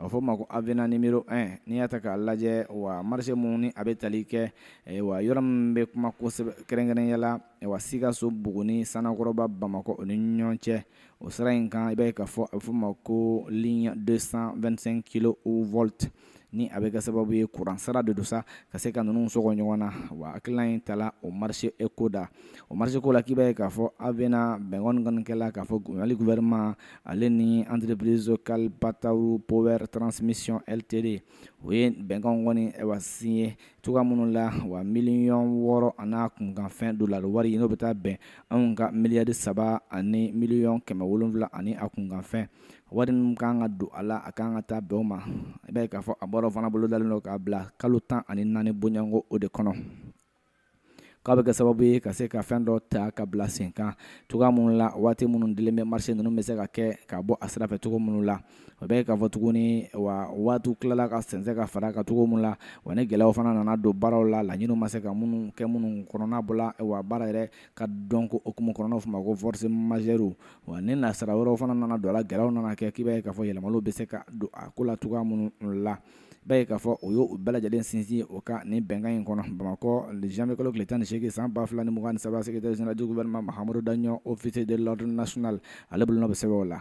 a bɛ fɔ o ma ko avenant numéro 1 n'i y'a ta k'a lajɛ wa marché min ni a bɛ tali kɛ wa yɔrɔ min bɛ kuma kosɛbɛ kɛrɛnkɛrɛnya la wa sikaso buguni sanankɔrɔba bamakɔ o ni ɲɔgɔn cɛ o sira in kan i b'a ye k'a fɔ a bɛ f'o ma ko ligne 225 kilovolts ni a bɛ kɛ sababu ye kuran sira de don sa ka se ka ninnu sɔgɔ ɲɔgɔn na wa hakilina in tala o marché ko da o marché ko la k'i b'a ye k'a fɔ avenant bɛnkan kɔni kɛla k'a fɔ gouvernement ale ni entreprise kalpataru power transmission ltd u ye bɛnkan kɔni wa signé cogoya minnu la wa miliyɔn wɔɔrɔ an'a kunkanfɛn dolari wari in n'o bɛ taa bɛn anw ka miliyari saba ani miliyɔn kɛmɛ wolonwula ani a kunkanfɛn wari min ka kan ka don a la a ka kan ka taa bɛn o ma i b'a ye k'a fɔ a baara fana bolodalen don k'a bila kalo tan ani naani bɔɲɔgɔnko o de kɔnɔ k'a bɛ kɛ sababu ye ka se ka fɛn dɔ ta ka bila sen kan cogoya minnu la waati minnu dilen bɛ marché ninnu bɛ se ka kɛ ka bɔ a sira fɛ cogo minnu la i b'a ye k'a fɔ tuguni wa waatiw tilala ka sɛnsɛn ka fara a kan cogo minnu la wa ni gɛlɛyaw fana nana don baaraw la laɲiniw ma se ka minnu kɛ minnu kɔnɔna bɔla wa baara yɛrɛ ka dɔn ko hukumu kɔnɔ n'o fɔ ma ko force majeure wa ni nasara wɛrɛw fana nana don a la gɛlɛyaw nana kɛ k'i b'a ye k'a fɔ yɛlɛmaliw bɛ se ka don a ko la cogoya minnu la ba ye k'a fɔ o y'o bɛɛ lajɛlen sinsin o kan ni bɛnkan in kɔnɔ bamakɔ janmɛ kalo tile tan ni8egin san 2fula ni mugan2 sabasɛ seginnajɛjɛ wɛrɛma mahamadumudu daɲɔgɔn ofisi de ladon nas ale bolo bɛ sɛbɛn o la